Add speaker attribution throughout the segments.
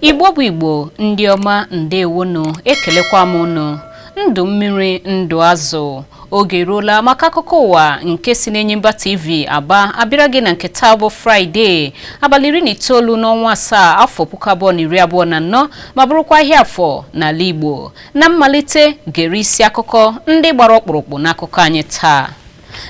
Speaker 1: igbo bụ igbo ndị ọma ndewonu ekelekwa m unu ndụ mmiri ndụ azụ oge eruola maka akụkọ ụwa nke si n'Enyimba TV Aba abịara gị na nke taa bụ Fraịde abalị iri na itoolu n'ọnwa asaa afọ puku abụọ na iri abụọ na anọ ma bụrụkwa ahịa afọ n'ala Igbo na mmalite gere isi akụkọ ndị gbara ọkpụrụkpụ n'akụkọ anyị taa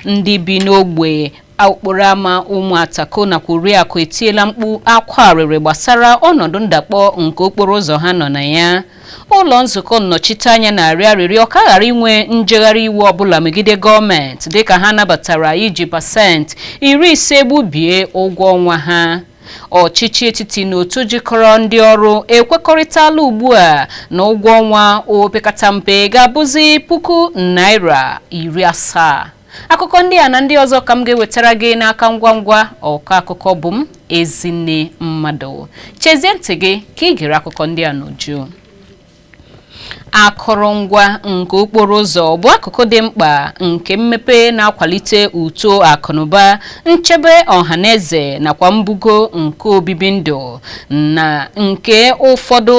Speaker 1: ndị bi n'ogbe Okporo ama ụmụ atako nakwa oriakụ etiela mkpu akwa arịrị gbasara ọnọdụ ndakpọ nke okporo ụzọ ha nọ na ya ụlọ nzukọ nnọchiteanya na-arịọ arịrịọ ka a ghara inwe njegharị iwe ọbụla megide gọọmenti dịka ha nabatara iji pasentị iri ise gbubie ụgwọ ọnwa ha ọchịchị etiti na otu jikọrọ ndị ọrụ ekwekọrịtala ugbu a na ụgwọ ọnwa opekata mpe ga-abụzi puku naira iri asaa akụkọ ndị a na ndị ọzọ ka m ga-ewetara gị n'aka ngwa ngwa ọkọ akụkọ bụ m ezinne mmadụ chezie ntị gị ka ị gere akụkọ ndị a n'uju akụrụngwa nke okporo ụzọ bụ akụkụ dị mkpa nke mmepe na-akwalite uto akụnụba nchebe ọha na eze nakwa mbugo nke obibi ndụ na nke ụfọdụ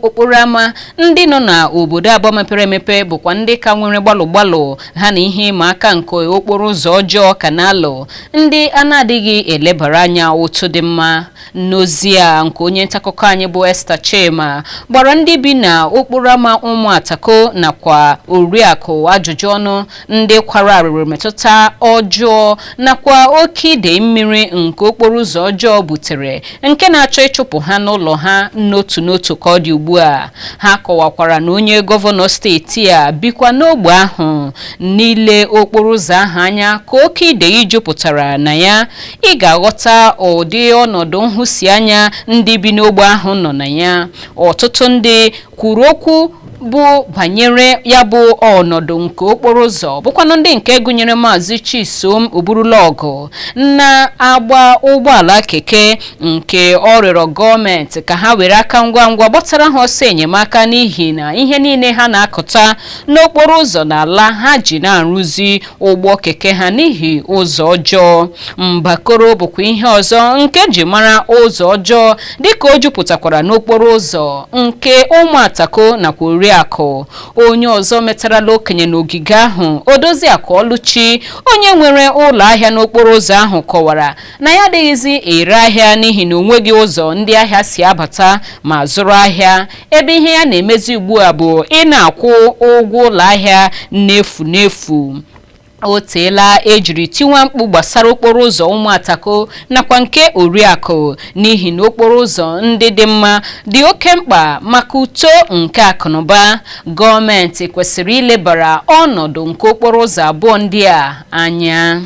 Speaker 1: okporo ámá ndị nọ n'obodo aba mepere emepe bụkwa ndị ka nwere gbalụ gbalụ ha na ihe ịma aka nke okporo ụzọ ọjọọ ka na-alụ ndị a na-adịghị elebara anya otu dị mma n'ozi a nke onye ntaakụkọ anyị bụ Esther Chima gbara ndị bi na okporo ama ụmụ atako nakwa oriakụ ajụjụ ọnụ ndị kwara arịrị metụta ọjọọ nakwa oke idei mmiri nke okporo ụzọ ọjọọ butere nke na-achọ ịchụpụ ha n'ụlọ ha n'otu n'otu ka ọ dị ugbu a ha kọwakwara na onye gọvanọ steeti a bikwa n'ogbe ahụ n'ile okporo ụzọ ahụ anya ka oke idei jupụtara na ya ị ga-aghọta ụdị ọnọdụ nhụsianya ndị bi n'ogbe ahụ nọ na ya ọtụtụ ndị kwuru okwu bụ banyere ya bụ ọnọdụ nke okporo ụzọ bụkwanụ ndị nke gụnyere maazị chisom oburulọgụ na-agba ụgbọala keke nke ọ rịọrọ gọọmenti ka ha were aka ngwa ngwa gbatara ha ọsọ enyemaka n'ihi na ihe niile ha na-akụta n'okporo ụzọ n'ala ha ji na-arụzi ụgbọ keke ha n'ihi ụzọ ọjọọ mbakoro bụkwa ihe ọzọ nke e ji mara ụzọ ọjọọ dịka o jupụtakwara n'okporo ụzọ nke ụmụatako nakwa oriakụ onye ọzọ metarala okenye n'ogige ahụ odoziakụ ọlụchi onye nwere ụlọ ahịa n'okporo ụzọ ahụ kọwara na ya adịghịzi ere ahịa n'ihi na onweghị ụzọ ndị ahịa si abata ma zụrụ ahịa ebe ihe ya na-emezi ugbu a bụ ị na-akwụ ụgwọ ụlọ ahịa n'efu n'efu o teela ejiri tiwa mkpu gbasara okporo ụzọ ụmụatako nakwa nke oriakụ n'ihi na okporo ụzọ ndị dị mma dị oke mkpa maka uto nke akụnụba gọọmenti kwesịrị ilebara ọnọdụ nke okporo ụzọ abụọ ndị a anya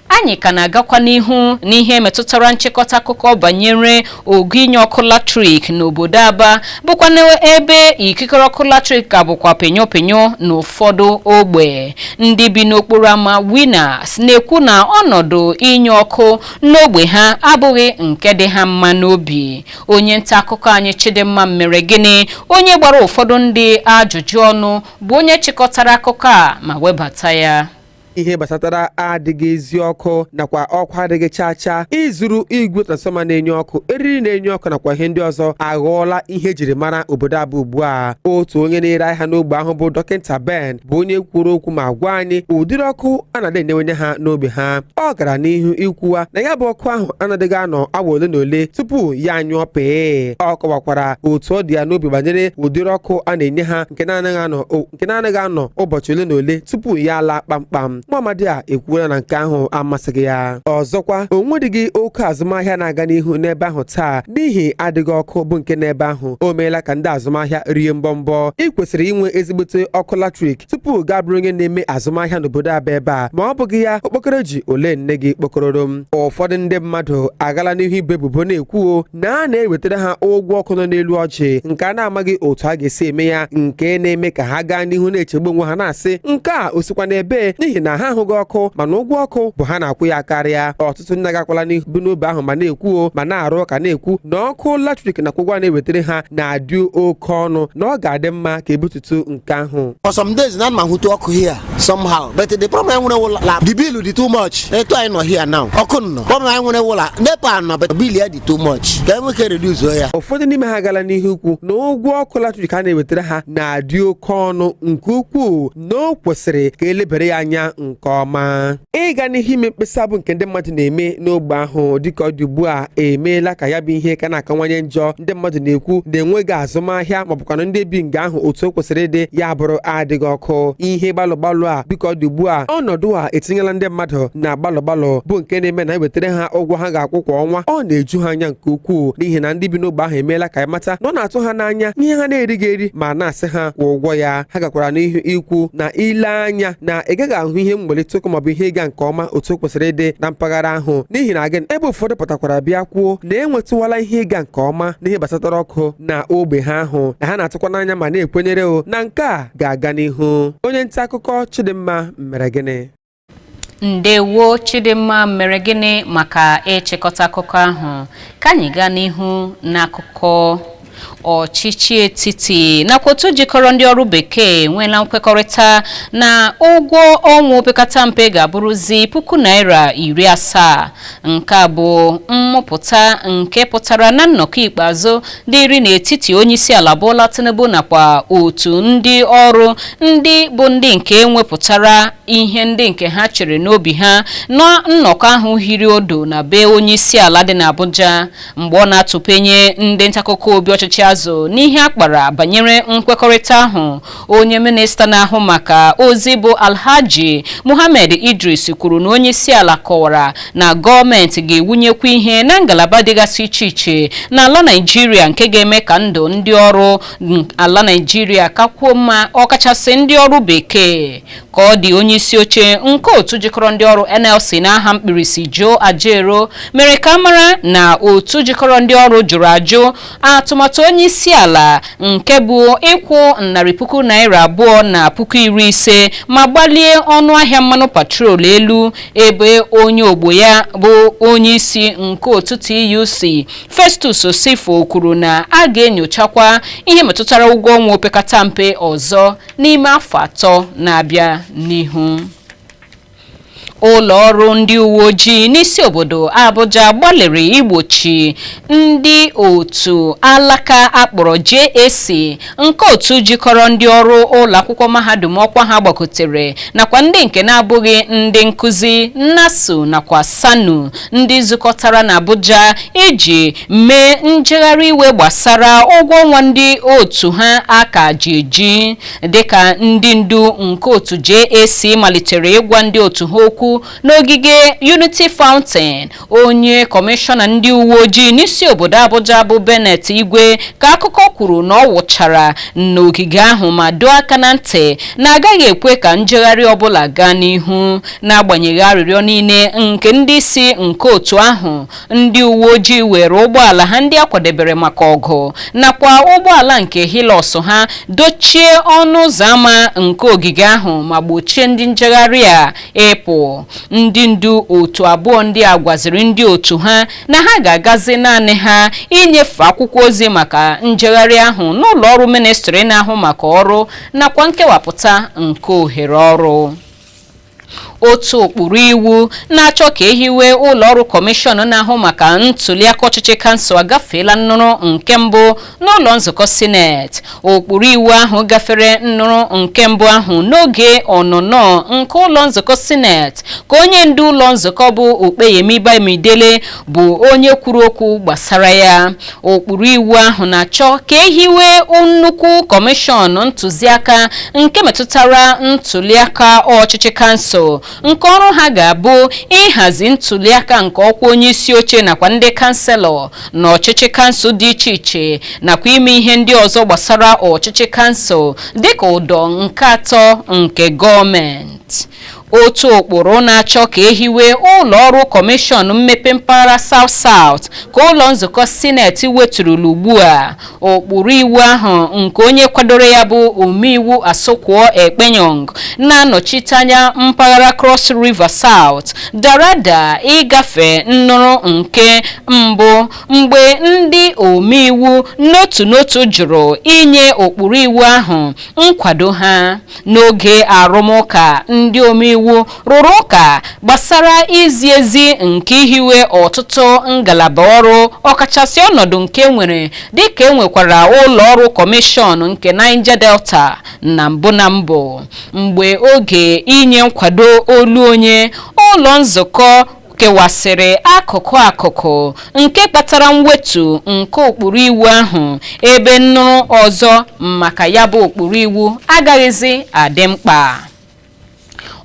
Speaker 1: anyị ka na-agakwa n'ihu n'ihe metụtara nchịkọta akụkọ banyere ogo inye ọkụ latrik n'obodo Aba bụkwanụ ebe ikikere ọkụ latrik ka bụkwa penyo penyo n'ụfọdụ ogbe ndị bi n'okporo ámá Winners na-ekwu na ọnọdụ inye ọkụ n'ogbe ha abụghị nke dị ha mma n'obi onye nta akụkọ anyị Chidimma Meregịnị onye gbara ụfọdụ ndị ajụjụ ọnụ bụ onye chịkọtara akụkọ a ma webata ya ihe
Speaker 2: gbasatara adịghị ezi ọkụ nakwa ọkụ adịghị chaa chaa ịzụrụ igwe transfọma na-enye ọkụ eriri na-enye ọkụ nakwa ihe ndị ọzọ aghọọla ihe ejiri mara obodo Aba ugbu a otu onye na-ere ahịa n'ogbe ahụ bụ dọkịta Ben bụ onye kwuru okwu ma gwa anyị ụdịrị ọkụ a na-adị enyewenye ha n'ogbe ha ọ gara n'ihu ikwuwa na ya bụ ọkụ ahụ anadịghị anọ awa ole na ole tupu ya anyụọ pịị ọ kọwakwara otu ọ dị ya n'obi banyere ụdịrị ọkụ a na-enye ha nke na-anaghị anọ nke na-anaghị anọ ụbọchị ole na ole tupu ya laa kpamkpam nwa amadi a ekwuola na nke ahụ amasịghị ya ọzọkwa o nwedịghị oke azụmahịa na-aga n'ihu n'ebe ahụ taa n'ihi adịghị ọkụ bụ nke n'ebe ahụ o meela ka ndị azụmahịa rie mbọmbọ ị kwesịrị inwe ezigbote ọkụ latrik tupu gị abụrụ onye na-eme azụmahịa n'obodo aba ebe a ma ọ bụghị ya okpokoro ji ole nne gị kpokọrọrọ m ụfọdụ ndị mmadụ agala n'ihu ibo ebubo na-ekwuo na a na-ewetara ha ụgwọ ọkụ nọ n'elu ọjị nke a na-amaghị otu a ga-esi eme ya nke na-eme ka ha gaa n'ihu na-echegbu onwe ha na-asị nke a o sikwa n'ebe n'ihi na ha ahụghị ọkụ mana ụgwọ ọkụ bụ ha na-akwụ ya karịa ọtụtụ ndị agakwala n'ihu n'ogbe ahụ ma na-ekwuo ma na-arụ ụka na-ekwu na ọkụ latrik nakwa ụgwọ a na-ewetara ha na-adị oke ọnụ na ọ ga-adị mma ka ebutu otu nke ahụ for some days na ma
Speaker 3: hụtu ọkụ here somehow but the problem anyị nwere wụla la the bill dị too much etu anyị nọ here now ọkụ nọ problem anyị nwere wụla nepa nọ but bill ya dị too much ka enwee ike reduce ya ụfọdụ n'ime ha agala
Speaker 2: n'ihu ikwu na ụgwọ ọkụ latrik a na-ewetara ha na-adị oke ọnụ nke ukwuu na o kwesịrị ka elebere ya anya nke ọma ịga n'ihu ime mkpesa bụ nke ndị mmadụ na-eme n'ogbe ahụ dịka ọ dị ugbu a emeela ka ya bụ ihe ka na-akawanye njọ ndị mmadụ na-ekwu na enweghị azụmahịa maọbụkwanụ ndị bi nga ahụ otu o kwesịrị ịdị ya bụrụ adịghị ọkụ ihe gbalụ gbalụ a dịka ọ dị ugbu a ọnọdụ a etinyela ndị mmadụ na gbalụ gbalụ bụ nke na-eme na ewetara ha ụgwọ ha ga-akwụ kwa ọnwa ọ na-eju ha anya nke ukwuu n'ihi na ndị bi n'ogbe ahụ emeela ka ya mata na ọ na-atụ ha n'anya ihe ha na-erighị eri ma na-asị ha kwụọ ụgwọ ya ha gakwara n'ihu ikwu na ile anya na ị gaghị ahụ ihe mgbalite ụkwụ maọbụ ihe ịga nke ọma otu o kwesịrị ịdị na mpaghara ahụ n'ihi na gịnị ebe ụfọdụ pụtakwara bịa kwuo na enwetụwala ihe ịga nke ọma n'ihe gbasatara ọkụ na ogbe ha ahụ na ha na-atụkwa n'anya ma na-ekwenyere o na nke a ga-aga n'ihu onye nta akụkọ Chidimma Mmeregini
Speaker 1: ndewo Chidimma Mmeregini maka ịchịkọta akụkọ ahụ ka anyị gaa n'ihu n'akụkọ ọchịchị etiti nakwa otu jikọrọ ndị ọrụ bekee enweela nkwekọrịta na ụgwọ ọnwa opekata mpe ga-abụrụzi puku naira iri asaa nke a bụ mmụpụta nke pụtara na nnọkọ ikpeazụ dịrị n'etiti onyeisiala Bola Tinubu nakwa otu ndị ọrụ ndị bụ ndị nke nwepụtara ihe ndị nke ha chere n'obi ha na nnọkọ ahụ hiri odo na be onyeisiala dị n'Abuja mgbe ọ na-atụpenye ndị ntakụkọ obi ọchịchị azụ n'ihe a kpara banyere nkwekọrịta ahụ onye minista na-ahụ maka ozi bụ alhaji muhammed idris kwuru na onye isi ala kọwara na gọọmenti ga-ewunyekwa ihe na ngalaba dịgasị iche iche n'ala naijiria nke ga-eme ka ndụ ndị ọrụ ala naijiria kakwuo mma ọkachasị ndị ọrụ bekee ka ọ dị onye isi oche nke otu jikọrọ ndị ọrụ nlc n'aha mkpirisi Joe Ajaero mere ka a mara na otu jikọrọ ndị ọrụ jụrụ ajụ atụmatụ onye isi ala nke bụ ịkwụ narị puku naira abụọ na puku iri ise ma gbalie ọnụ ahịa mmanụ petrol elu ebe onye ogbo ya bụ onye isi nke otu TUC Festus Osifo kwuru na a ga-enyochakwa ihe metụtara ụgwọ ọnwa opekata mpe ọzọ n'ime afọ atọ na-abịa n'ihu ụlọ ọrụ ndị uwe ojii n'isi obodo Abuja gbalịrị igbochi ndị otu alaka a kpọrọ JAC nke otu jikọrọ ndị ọrụ ụlọ akwụkwọ mahadum ọkwa ha gbagotere nakwa ndị nke na-abụghị ndị nkụzi NASU nakwa SSANU ndị zukọtara n'Abuja iji mee njegharị iwe gbasara ụgwọ ọnwa ndị otu ha a ka ji eji dịka ndị ndu nke otu JAC malitere ịgwa ndị otu ha okwu n'ogige Unity Fountain onye kọmishọna ndị uwe ojii n'isi obodo Abuja bụ Bennett Igwe ka akụkọ kwuru na ọ wụchara n'ogige ahụ ma doo aka na ntị na a gaghị ekwe ka njegharị ọbụla gaa n'ihu n'agbanyeghị arịrịọ niile nke ndị isi nke otu ahụ ndị uwe ojii were ụgbọala ha ndị a kwadebere maka ọgụ nakwa ụgbọala nke Hilux ha dochie ọnụ ụzọ ámá nke ogige ahụ ma gbochie ndị njegharị a ịpụ ndị ndu otu abụọ ndị a gwaziri ndị otu ha na ha ga-agazi naanị ha inyefe akwụkwọ ozi maka njegharị ahụ n'ụlọ ọrụ ministri na-ahụ maka ọrụ nakwa nkewapụta nke ohere ọrụ otu ụkpụrụ iwu na-achọ ka ehiwe ụlọ ọrụ kọmishọn na-ahụ maka ntuliaka ọchịchị kansụl agafeela nnụrụ nke mbụ n'ụlọ nzukọ sineti ụkpụrụ iwu ahụ gafere nnụrụ nke mbụ ahụ n'oge ọnụnọ nke ụlọ nzukọ sineti ka onye ndu ụlọ nzukọ bụ Opeyemi Bamidele bụ onye kwuru okwu gbasara ya ụkpụrụ iwu ahụ na-achọ ka ehiwe nnukwu kọmishọn ntụziaka nke metụtara ntuliaka ọchịchị kansụl nke ọrụ ha ga-abụ ịhazi ntuliaka nke ọkwa onye isi oche nakwa ndị kanselọ na ọchịchị kansụl dị iche iche nakwa ime ihe ndị ọzọ gbasara ọchịchị kansụl dịka ụdọ nke atọ nke gọọmenti otu ụkpụrụ na-achọ ka ehiwe ụlọ ọrụ kọmishọn mmepe mpaghara South South ka ụlọ nzukọ sineti weturula ugbu a ụkpụrụ iwu ahụ nke onye kwadoro ya bụ omeiwu Asuquo Ekpenyong na-anọchite anya mpaghara Cross River South dara ada ịgafe nnụrụ nke mbụ mgbe ndị omeiwu n'otu n'otu jụrụ inye ụkpụrụ iwu ahụ nkwado ha n'oge arụmụka ndị omeiwu rụrụ ụka gbasara izi ezi nke ihiwe ọtụtụ ngalaba ọrụ ọkachasị ọnọdụ nke nwere dịka enwekwara ụlọ ọrụ kọmishọn nke Niger Delta na mbụ na mbụ mgbe oge inye nkwado olu onye ụlọ nzukọ kewasịrị akụkụ akụkụ nke kpatara mwetu nke ụkpụrụ iwu ahụ ebe nnụrụ ọzọ maka ya bụ ụkpụrụ iwu agaghịzi adị mkpa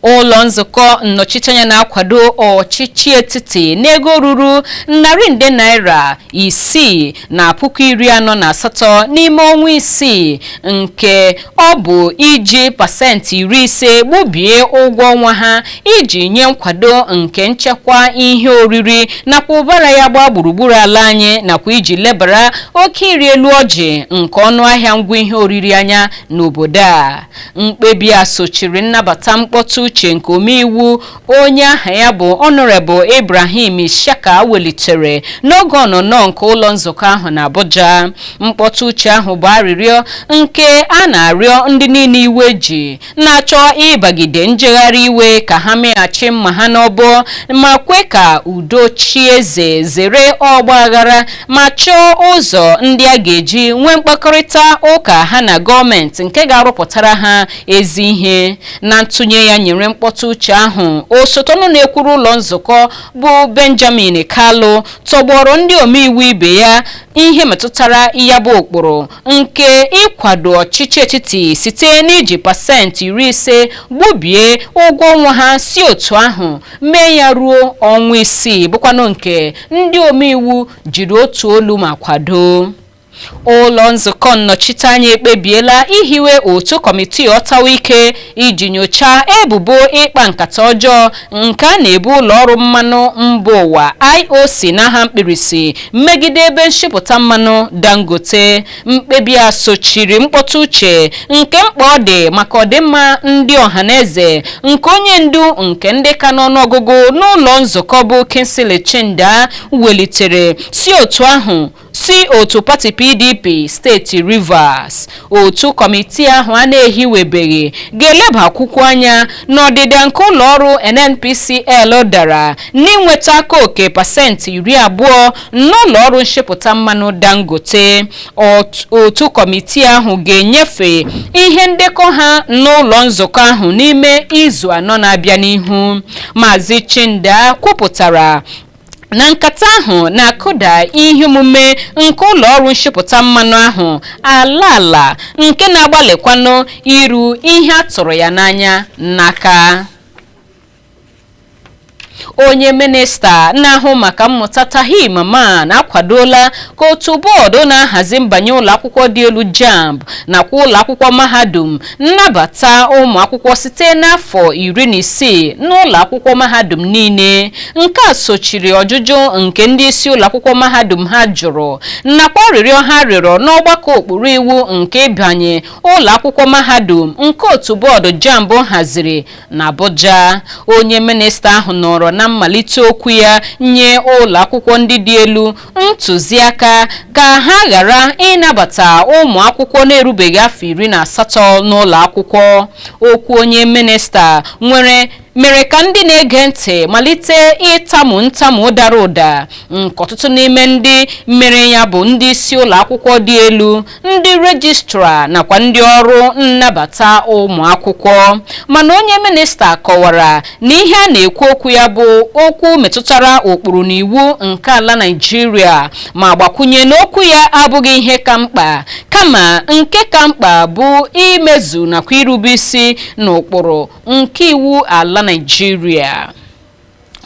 Speaker 1: ụlọ nzukọ nnọchiteanya na-akwado ọchịchị etiti n'ego ruru narị nde naira isii na puku iri anọ na asatọ n'ime ọnwa isii nke ọ bụ iji pasentị iri ise gbubie ụgwọ ọnwa ha iji nye nkwado nke nchekwa ihe oriri nakwa ụbara ya gbaa gburugburu ala anyị nakwa iji lebara oke ịrị elu ọjị nke ọnụ ahịa ngwa ihe oriri anya n'obodo a mkpebi a sochiri nnabata mkpọtụ uche nke omeiwu onye aha ya bụ honorable ibrahim ishaka welitere n'oge ọnọnọ nke ụlọ nzukọ ahụ na abuja mkpọtụ uche ahụ bụ arịrịọ nke a na-arịọ ndị niile iwe ji na-achọ ịbagide njegharị iwe ka ha meghachi mma ha n'ọbọ ma kwe ka udo chie eze zere ọgba aghara ma chọọ ụzọ ndị a ga-eji nwee mkpakọrịta ụka ha na gọọmenti nke ga-arụpụtara ha ezi ihe na ntụnye ya nyere mkpọtụ uche ahụ osote ọnụ na-ekwuru ụlọ nzukọ bụ benjamin kalu tọgbọrọ ndị omeiwu ibe ya ihe metụtara ya bụ ụkpụrụ nke ịkwado ọchịchị etiti site n'iji pasentị iri ise gbubie ụgwọ ọnwa ha si otu ahụ mee ya ruo ọnwa isii bụkwanụ nke ndị omeiwu jiri otu olu ma kwado ụlọ nzukọ nnọchiteanya ekpebiela ihiwe otu kọmitii ọtawa ike iji nyochaa ebubo ịkpa nkata ọjọọ nke a na-ebo ụlọ ọrụ mmanụ mba ụwa IOC n'aha mkpirisi megide ebe nshipụta mmanụ Dangote mkpebi a sochiri mkpọtụ uche nke mkpa ọ dị maka ọdịmma ndị ọhaneze nke onye ndu nke ndị ka n'ọnụọgụgụ n'ụlọ nzukọ bụ Kingsley Chinda welitere si otu ahụ si otu pati pdp steeti rivers otu kọmitii ahụ a na-ehiwebeghị ga-elebakwukwa anya n'ọdịda nke ụlọọrụ nnpcl dara n'inweta aka oke pasentị iri abụọ n'ụlọọrụ nshipụta mmanụ dangote otu kọmitii ahụ ga-enyefe ihe ndekọ ha n'ụlọ nzukọ ahụ n'ime izu anọ na-abịa n'ihu maazị chinda kwupụtara na nkata ahụ na-akụda ihe omume nke ụlọ ọrụ nshipụta mmanụ ahụ ala ala nke na-agbalịkwanụ iru ihe a tụrụ ya n'anya n'aka onye minista na-ahụ maka mmụta Tahir Mamman akwadola ka otu bọọdụ na-ahazi mbanye ụlọakwụkwọ dị elu jamb nakwa ụlọakwụkwọ mahadum nabata ụmụ akwụkwọ site n'afọ iri na isii n'ụlọ akwụkwọ mahadum niile nke a sochiri ọjụjụ nke ndị isi ụlọ akwụkwọ mahadum ha jụrụ nakwa arịrịọ ha rịọrọ n'ọgbakọ ụkpụrụ iwu nke ịbanye ụlọ akwụkwọ mahadum nke otu bọọdụ jamb haziri na Abuja onye minista ahụ nọrọ na mmalite okwu ya nye ụlọ akwụkwọ ndị dị elu ntụziaka ka ha ghara ịnabata ụmụ akwụkwọ na-erubeghị afọ iri na asatọ n'ụlọ akwụkwọ okwu onye minista nwere mere ka ndị na-ege ntị malite ịtamu ntamu dara ụda nke ọtụtụ n'ime ndị mere ya bụ ndị isi ụlọ akwụkwọ dị elu ndị rejistra nakwa ndị ọrụ nnabata ụmụ akwụkwọ mana onye minista kọwara na ihe a na-ekwu okwu ya bụ okwu metụtara ụkpụrụ na iwu nke ala Naịjirịa ma gbakwunye na okwu ya abụghị ihe ka mkpa kama nke ka mkpa bụ imezu nakwa irube isi n'ụkpụrụ nke iwu ala Naịjirịa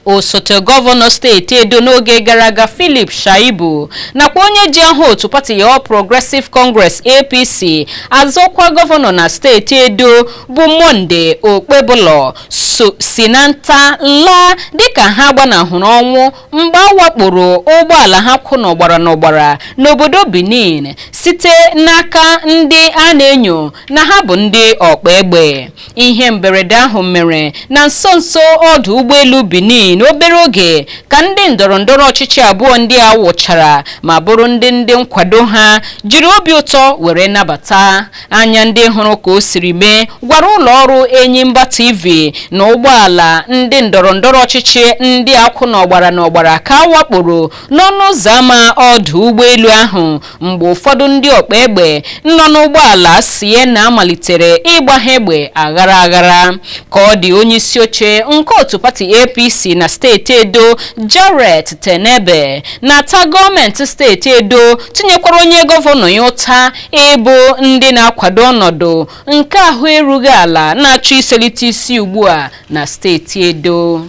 Speaker 1: osote gọvanọ steeti edo n'oge gara aga philip shaibu nakwa onye ji aha otu pati All Progressive Congress apc azọ ọkwa gọvanọ na steeti edo bụ Monday Okpebholo so si na nta laa dịka ha gbanahụrụ ọnwụ mgbe a wakporo ụgbọala ha kwụ n'ọgbara n'ọgbara n'obodo benin site n'aka ndị a na-enyo na ha bụ ndị ọkpa egbe ihe mberede ahụ mere na nso nso ọdụ ụgbọelu Benin obere oge ka ndị ndọrọ ndọrọ ọchịchị abụọ ndị a wụchara ma bụrụ ndị ndị nkwado ha jiri obi ụtọ were nabata anya ndị hụrụ ka o siri mee gwara ụlọ ọrụ Enyimba TV na ụgbọala ndị ndọrọ ndọrọ ọchịchị ndị a kwụ n'ọgbara n'ọgbara ka a wakporo n'ọnụ ụzọ ámá ọdụ ụgbọelu ahụ mgbe ụfọdụ ndị ọkpa egbe nọ n'ụgbọala Sienna malitere ịgba ha egbe aghara aghara ka ọ dị onye isi oche nke otu pati APC na steeti Edo Jarrett Tenebe na-ata gọọmenti steeti Edo tinyekwara onye gọvanọ ya ụta ịbụ ndị na-akwado ọnọdụ nke ahụ erughị ala na-achọ iselite isi ugbu a na steeti Edo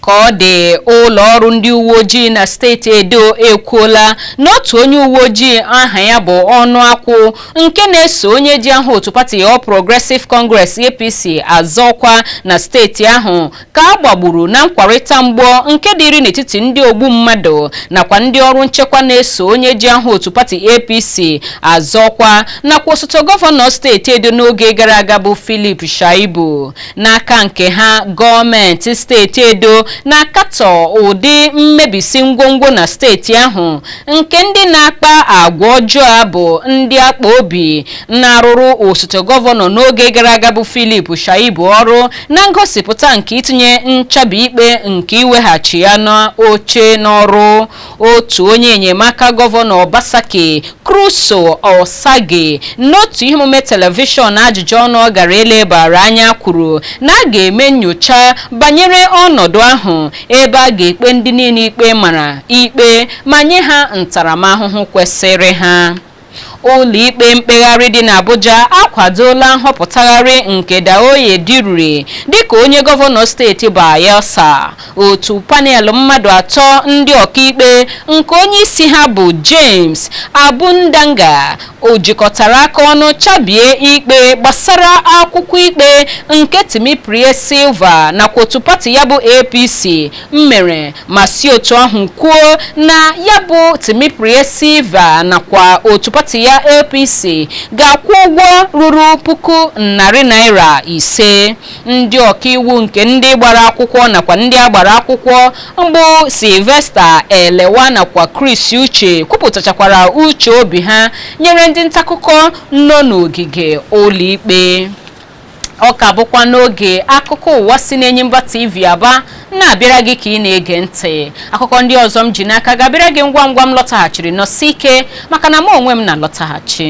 Speaker 1: ka ọ dị ụlọ ọrụ ndị uwe ojii na steeti edo ekwuola na otu onye uwe ojii aha ya bụ Onuh Akor nke na-eso onye ji aha otu pati All Progressive Congress APC azọ ọkwa na steeti ahụ ka a gbagburu na nkwarịta mgbọ nke dịrị n'etiti ndị ogbu mmadụ nakwa ndị ọrụ nchekwa na-eso onye ji aha otu pati APC azọ ọkwa nakwa osote gọvanọ steeti edo n'oge gara aga bụ Philip Shaibu n'aka nke ha gọọmenti steeti edo na-akatọ ụdị mmebisi ngwongwo na steeti ahụ nke ndị na-akpa agwa ọjọọ a bụ ndị akpa obi na-arụrụ osote gọvanọ n'oge gara aga bụ Philip Shaibu ọrụ na ngosipụta nke itinye nchabi ikpe nke iweghachi ya n'oche n'ọrụ otu onye enyemaka gọvanọ Obaseki Crusoe Osagie n'otu ihe omume telivishọn ajụjụ ọnụ ọ gara elebara anya kwuru na a ga-eme nyocha banyere ọnọdụ ahụ ebe a ga-ekpe ndị niile ikpe mara ikpe ma nye ha ntaramahụhụ kwesịrị ha Ụlọikpe mkpegharị dị n'Abuja akwadoola nhọpụtagharị nke Douye Diruri dịka onye gọvanọ steeti Bayelsa. Otu panel mmadụ atọ ndị ọkaikpe nke onyeisi ha bụ James Abundaga jikọtara aka ọnụ chabie ikpe gbasara akwụkwọ ikpe nke Timipre Sylva nakwa otu pati ya bụ APC mere ma si otu ahụ kwuo na ya bụ Timipre Sylva nakwa otu pati ya APC ga-akwụ ụgwọ ruru puku narị naira ise ndị ọkaiwu nke ndị gbara akwụkwọ nakwa ndị a gbara akwụkwọ bụ Sylvester Elewa nakwa Chris Uche kwupụtachakwara uche obi ha nyere ndị ntaakụkọ nọ n'ogige ụlọikpe ọ ka bụkwa n'oge akụkọ ụwa si n'Enyimba TV Aba na-abịara gị ka ị na-ege ntị akụkọ ndị ọzọ m ji n'aka ga-abịara gị ngwa ngwa m lọtaghachiri nọsie ike maka na mụ onwe m na-alọtaghachi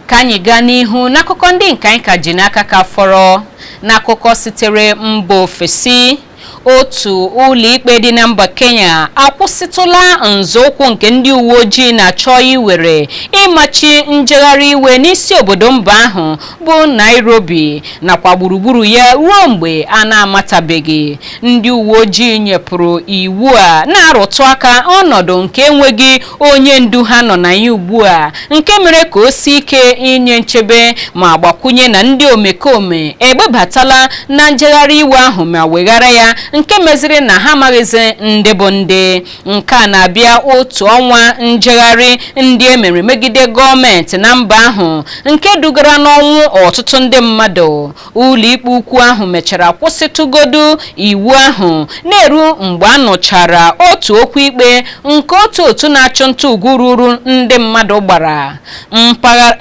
Speaker 1: ka anyị gaa n'ihu n'akụkọ ndị nke anyị ka ji n'aka ka fọrọ n'akụkọ sitere mba ofesi otu ụlọikpe dị na mba kenya akwụsịtụla nzọụkwụ nke ndị uwe ojii na-achọ iwere ịmachi njegharị iwe n'isi obodo mba ahụ bụ nairobi nakwa gburugburu ya ruo mgbe a na-amatabeghị ndị uwe ojii nyepụrụ iwu a na-arụtụ aka ọnọdụ nke enweghị onye ndu ha nọ na ya ugbu a nke mere ka o sie ike inye nchebe ma gbakwunye na ndị omekome egbebatala na njegharị iwe ahụ ma weghara ya nke meziri na ha amaghịzi ndị bụ ndị nke a na-abịa otu ọnwa njegharị ndị e mere megide gọọmenti na mba ahụ nke dugara n'ọnwụ ọtụtụ ndị mmadụ ụlọikpe ukwu ahụ mechara kwụsịtụgodu iwu ahụ na-eru mgbe a nụchara otu okwu ikpe nke otu otu na-achụ nta ugwu ruru ndị mmadụ gbara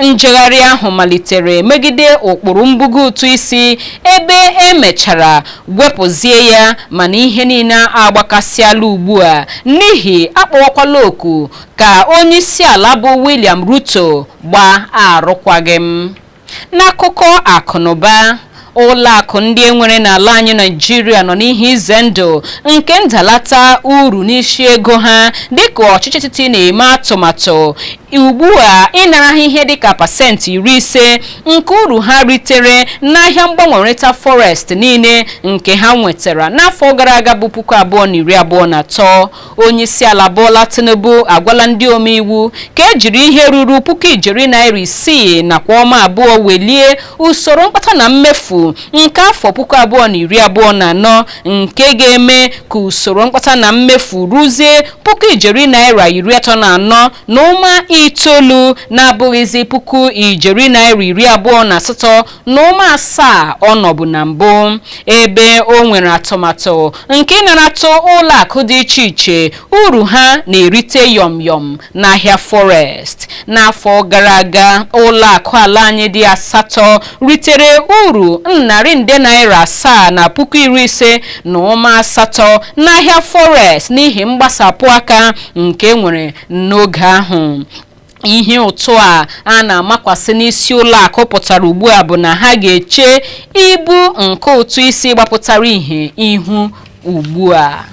Speaker 1: njegharị ahụ malitere megide ụkpụrụ mbugo ụtụ isi ebe e mechara wepụzie ya mana ihe niile agbakasịala ugbu a n'ihi a kpọwakwala oku ka onye isi ala bụ William Ruto gbaa arụkwaghịm N'akụkọ akụnụba ụlọ akụ ndị e nwere n'ala anyị Naịjirịa nọ n'ihe ize ndụ nke ndalata uru n'isi ego ha dịka ọchịchị etiti na-eme atụmatụ ugbu a ịnara ha ihe dịka pasentị iri ise nke uru ha ritere n'ahịa mgbanwerịta forex niile nke ha nwetara n'afọ gara aga bụ puku abụọ na iri abụọ na atọ onyeisiala Bola Tinubu agwala ndị omeiwu ka ejiri ihe ruru puku ijeri naira isii nakwa ụma abụọ welie usoro mkpata na mmefu nke afọ puku abụọ na iri abụọ na anọ nke ga-eme ka usoro mkpata na mmefu ruzie puku ijeri naira iri atọ na anọ na ụma itoolu na-abụghịzi puku ijeri naira iri abụọ na asatọ na ụma asaa ọ nọbụ na mbụ ebe o nwere atụmatụ nke ịnaratụ ụlọ akụ dị iche iche uru ha na-erite yọm yọm n'ahịa forex n'afọ gara aga ụlọ akụ ala anyị dị asatọ ritere uru narị nde naira asaa na puku iri ise na ụma asatọ n'ahịa forex n'ihi mgbasapụ aka nke e nwere n'oge ahụ ihe ụtụ a a na-amakwasị n'isi ụlọ akụ pụtara ugbu a bụ na ha ga-eche ibu nke ụtụ isi gbapụtara ihe ihu ugbu a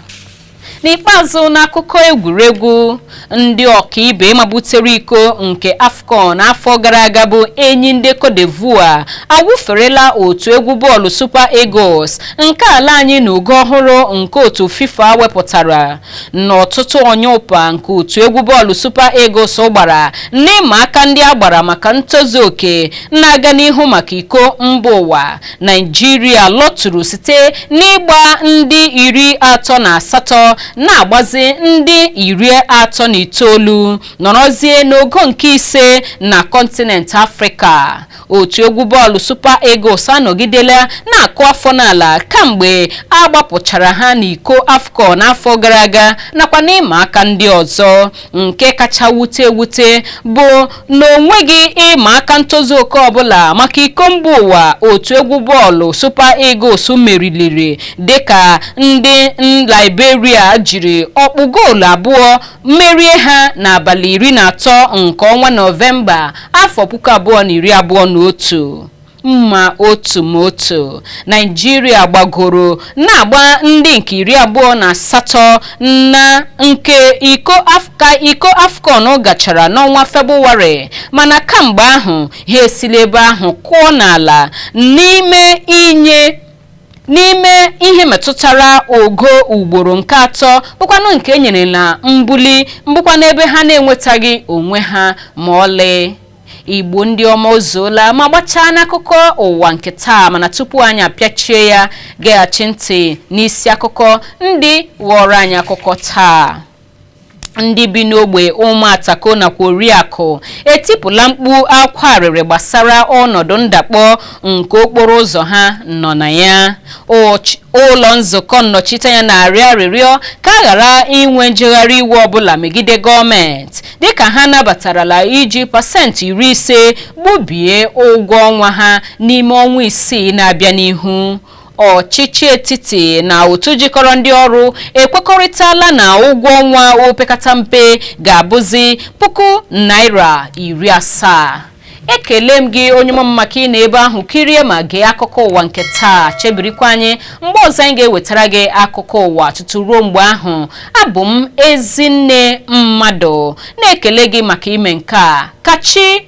Speaker 1: n'ikpeazụ n'akụkọ egwuregwu ndị ọkaibe mabutere iko nke afcon afọ gara aga bụ enyi ndị cote d'ivoire awụferela otu egwu bọọlụ super eagles nke ala anyị n'ogo ọhụrụ nke otu fifa wepụtara n'ọtụtụ ọnyụpa nke otu egwu bọọlụ Super Eagles gbara n'ịma aka ndị a gbara maka ntozu oke na-aga n'ihu maka iko mba ụwa Naijiria lọtụrụ site n'ịgba ndị iri atọ na asatọ na-agbazi ndị iri atọ na itoolu nọrọzie n'ogo nke ise na kọntinent Afrịka otu egwu bọọlụ Super Eagles anọgidela na-akụ afọ n'ala kamgbe a gbapụchara ha n'iko AFCON n'afọ gara aga nakwa n'ịma aka ndị ọzọ nke kacha wute ewute bụ na o nweghị ịma aka ntozu oke ọbụla maka iko mba ụwa otu egwu bọọlụ Super Eagles meriliri dịka ndị Liberia jiri ọkpụ goolu abụọ merie ha n'abalị iri na atọ nke ọnwa Nọvemba afọ puku abụọ na iri abụọ na otu ma otu ma otu naijiria gbagoro na-agba ndị nke iri abụọ na asatọ na nke iko Af- ka iko afcon gachara n'ọnwa febụwarị mana kamgbe ahụ ha esila ebe ahụ kụọ n'ala n'ime inye n'ime ihe metụtara ogo ugboro nke atọ bụkwanụ nke e nyere na mbuli bụkwanụ ebe ha na-enwetaghị onwe ha ma ọlị igbo ndị ọma o zuola ma gbachaa n'akụkọ ụwa nke taa mana tupu anyị apịachie ya geghachi ntị n'isi akụkọ ndị ghọọrọ anyị akụkọ taa ndị bi n'ogbe ụmụatako nakwa oriakụ etipụla mkpu akwa arịrị gbasara ọnọdụ ndakpọ nke okporo ụzọ ha nọ na ya ụlọ nzukọ nnọchiteanya na-arịọ arịrịọ ka a ghara inwe njegharị iwe ọbụla megide gọọmenti dịka ha nabatarala iji pasentị iri ise gbubie ụgwọ ọnwa ha n'ime ọnwa isii na-abịa n'ihu ọchịchị etiti na otu jikọrọ ndị ọrụ ekwekọrịtala na ụgwọ ọnwa opekata mpe ga-abụzi puku naira iri asaa ekele m gị onye m maka ịnọ ebe ahụ kirie ma gee akụkọ ụwa nke taa chebirikwa anyị mgbe ọzọ anyị ga-ewetara gị akụkọ ụwa tutu ruo mgbe ahụ abụ m ezinne mmadụ na-ekele gị maka ime nke a ka chi